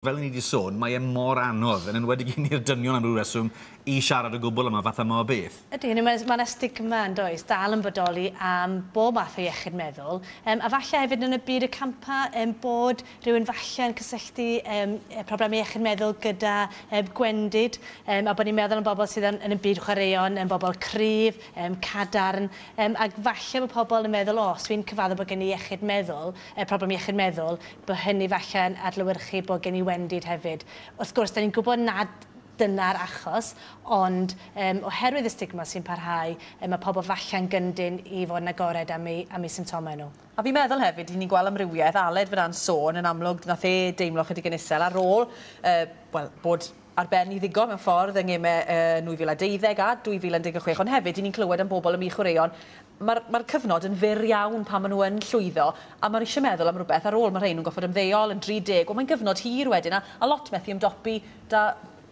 Fel o'n i 'di sôn, mae e mor anodd, yn enwedig i ni'r dynion am ryw reswm, i siarad o gwbl am y fath yma o beth. Ydy, hynny yw, mae 'na, mae 'na stigma, yn does, dal yn bodoli am bob math o iechyd meddwl, yym, a falle hefyd yn y byd y campa, yym, bod rhywun falle yn cysylltu, yym, yy, problemau iechyd meddwl gyda, yym, gwendid, yym, a bod ni'n meddwl am bobl sydd yn, yn y byd chwaraeon, yn bobl cryf, yym, cadarn, yym, ac falle bod pobl yn meddwl, o, os dwi'n cyfadde bod gen i iechyd meddwl, yy, problem iechyd meddwl, Bo hynny falle yn adlewyrchu bod gen i wendid hefyd. Wrth gwrs, dan ni'n gwybod nad dyna'r achos, ond yym oherwydd y stigma sy'n parhau, yy mae pobl falle'n gyndyn i fod yn agored am eu am eu symptomau nhw. A fi'n meddwl hefyd, ry'n ni'n gweld amrywiaeth, Aled fan'na'n sôn yn amlwg, nath e deimlo chydig yn isel ar ôl yy wel bod ar ben i ddigon mewn ffordd yng ngemau 2012 a 2016 ond hefyd i ni'n clywed am bobl yn mynd i chwaraeon mae'r mae'r cyfnod yn fyr iawn pan maen nhw yn llwyddo a maen nhw eisiau meddwl am rhywbeth ar ôl mae rhai nhw'n gorfod ymddeol yn 30 wel mae'n gyfnod hir wedyn a a lot methu ymdopi 'da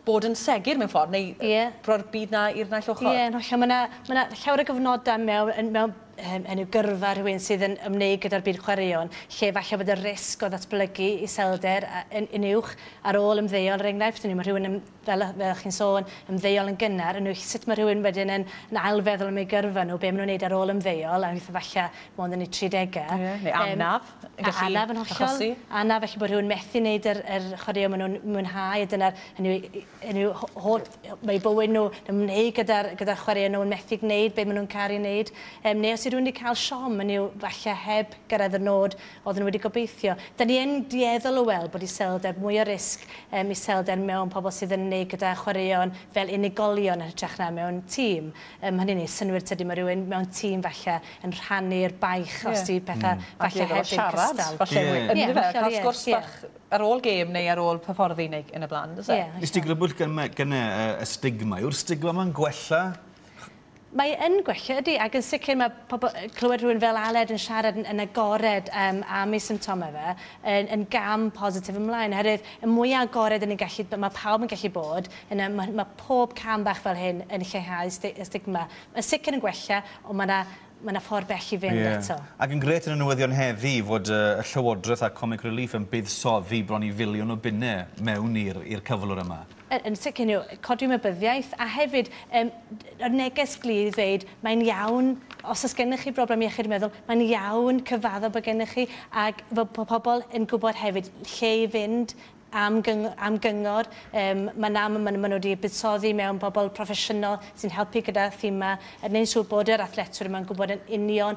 bod yn segur mewn ffordd neu yy... Ie. ...roi'r byd 'na i'r naill ochr. Ie yn hollol ma' 'na ma' 'na llawer o gyfnodau mewn yn mewn hynny yw gyrfa rhywun sydd yn ymwneud gyda'r byd chwaraeon, lle falle bod y risg o ddatblygu iselder yn uwch ar ôl ymddeol, er enghraifft, hynny yw mae rhywun yn, fel fel chi'n sôn, ymddeol yn gynnar, hynny yw sut mae rhywun wedyn yn yn ail-feddwl am eu gyrfa nhw, be maen nhw'n wneud ar ôl ymddeol, a weithie falle mond yn eu tridegau. Ie, neu anaf yn gallu achosi. Anaf yn hollol, anaf, felly bod rhywun methu wneud yr yr chwaraeon maen nhw'n mwynhau, a dyna'r, hynny yw, yn eu holl eu bywyd nhw, yn ymwneud gyda'r gyda chwaraeon nhw, yn methu gwneud beth maen nhw'n caru wneud, um, neu os yw rhywun wedi cael siom, yn yw falle heb gyrraedd y nod oedd nhw wedi gobeithio. Da ni yn dueddol o weld bod iselder mwy o risg um, iselder mewn pobl sydd yn ymwneud gyda chwaraeon fel unigolion yn hytrach na mewn tîm. Um, hynny ni, synwyr tydi mae rhywun mewn tîm falle yn rhannu'r baich yeah. os di pethau mm. falle heb yn cystal. Falle yeah. yn yeah, fe, cael sgwrs yeah. bach ar ôl gêm neu ar ôl perffordi neu yn y bla'n does e? Ie. Nes ti grybwyll gyme- gyne y y stigma yw'r stigma ma'n gwella? Mae yn gwella ydi ag yn sicr ma' pobol yy clywed rhywun fel Aled yn siarad yn yn agored yym am ei symptome fe yn yn gam positif ymlaen oherwydd y mwya agored 'yn ni'n gallu b- ma' pawb yn gallu bod yna ma' ma' pob cam bach fel hyn yn lleihau sti- y stigma. Yn sicr yn gwella on' ma' 'na Mae 'na ffordd bell i fynd eto. Ie. Ac yn grêt yn y newyddion heddi fod y Llywodraeth a Comic Relief yn buddsoddi bron i filiwn o bunne mewn i'r i'r cyflwr yma. Yn yn sicr you know, codi ymwybyddiaeth a hefyd yym yr neges glir i ddeud mae'n iawn os oes gennych chi broblem iechyd meddwl mae'n iawn cyfaddo bod gennych chi ac fod po- pobl yn gwybod hefyd lle i fynd am gyng am gyngor um, mae'n am maen nhw wedi buddsoddi mewn bobl proffesiynol sy'n helpu gyda thema yn gwneud siŵr bod yr athletwyr yma'n gwybod yn union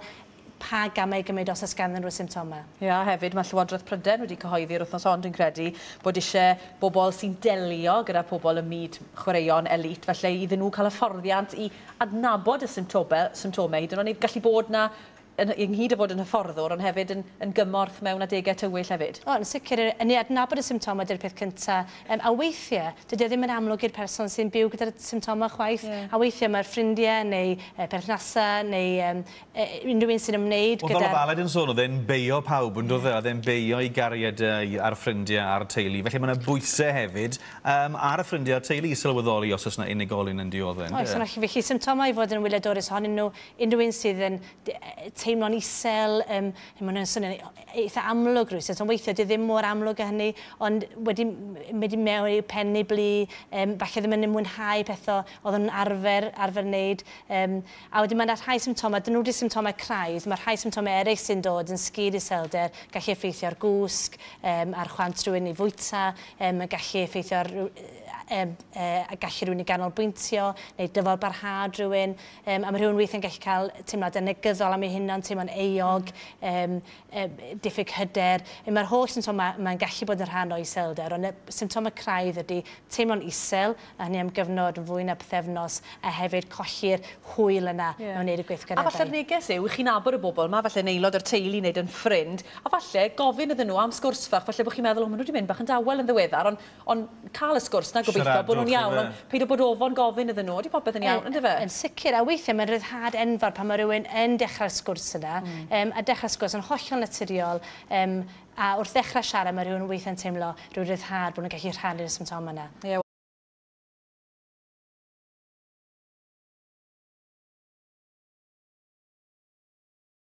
pa gamau i gymryd os oes ganddyn nhw symptomau. Ie, a hefyd mae Llywodraeth Prydain wedi cyhoeddi'r wythnos hon, dwi'n credu, bod eisiau bobl sy'n delio gyda phobl ym myd chwaraeon elît, falle iddyn nhw cael hyfforddiant i adnabod y symptobel, symptomau hyd yn oed, neu gallu bod na Yn, ynghyd â fod yn hyfforddwr, ond hefyd yn, yn gymorth mewn adegau tywyll hefyd. O, yn sicr, yn neu adnabod y symptomau ydy'r peth cynta. Yym, a weithie, dydy o ddim yn amlwg i'r person sy'n byw gyda'r symptomau chwaith. Ie. A weithie mae'r ffrindie neu yy perthnasa neu yym yy unrhyw un sy'n ymwneud gyda'r... Wel, fel oedd Aled yn sôn, oedd e'n beio pawb, yn doedd e? Oedd e'n beio ei gariadau a'r ffrindie a'r teulu. Felly, mae 'na bwyse hefyd yym ar y ffrindie a'r teulu i sylweddoli os oes 'na unigolyn yn diodde', ynde? Oes, felly symptomau i fod yn wyliadwrus ohonyn nhw unrhyw un sydd yn teimlo'n isel, um, mae hwnna'n swnio'n e-, eitha amlwg rwy'n sy'n weithio, di ddim mor amlwg â hynny, ond wedi mynd i mewn i'w pen neu blu, um, falle ddim yn mwynhau pethau oedd yn arfer, arfer wneud. Um, a wedyn mae'n rhai symptomau, dyn nhw wedi symptomau craidd, mae rhai symptomau eraill sy'n dod yn sgil iselder, gallu effeithio ar gwsg, um, ar chwant rhywun i fwyta, um, gallu effeithio ar um, uh, gallu rhywun i ganolbwyntio neu dyfod barhad rhywun. Yym, a mae rhywun weithiau'n gallu cael teimladau negyddol am ei hunan, teimlo'n euog, um, um, diffyg hyder. Mae'r holl symptomau mae'n gallu bod yn rhan o iselder, ond y symptomau craidd ydy teimlo'n isel, a hynny am gyfnod fwy na pethefnos, a hefyd colli'r hwyl yna yeah. mewn wneud y gweithgareddau. A falle'r neges yw, chi'n abod y bobl yma, falle yn aelod o'r teulu neu yn ffrind, a falle gofyn iddyn nhw am sgwrs fach, falle bod chi'n meddwl, o, maen nhw wedi mynd bach yn dawel yn ddiweddar, ond Ond cael y sgwrs 'na, gobeithio bod nhw'n iawn, ond paid â bod ofon gofyn iddyn nhw, 'Ydy popeth yn iawn, yndyfe? Yn sicr, a weithiau mae'n ryddhad enfawr pan mae rhywun yn dechrau'r sgwrs yna, a dechrau'r sgwrs yn hollol naturiol, a wrth ddechrau siarad mae rhywun weithiau'n teimlo rhyw ryddhad bod nhw'n gallu rhannu'r symptomau yna.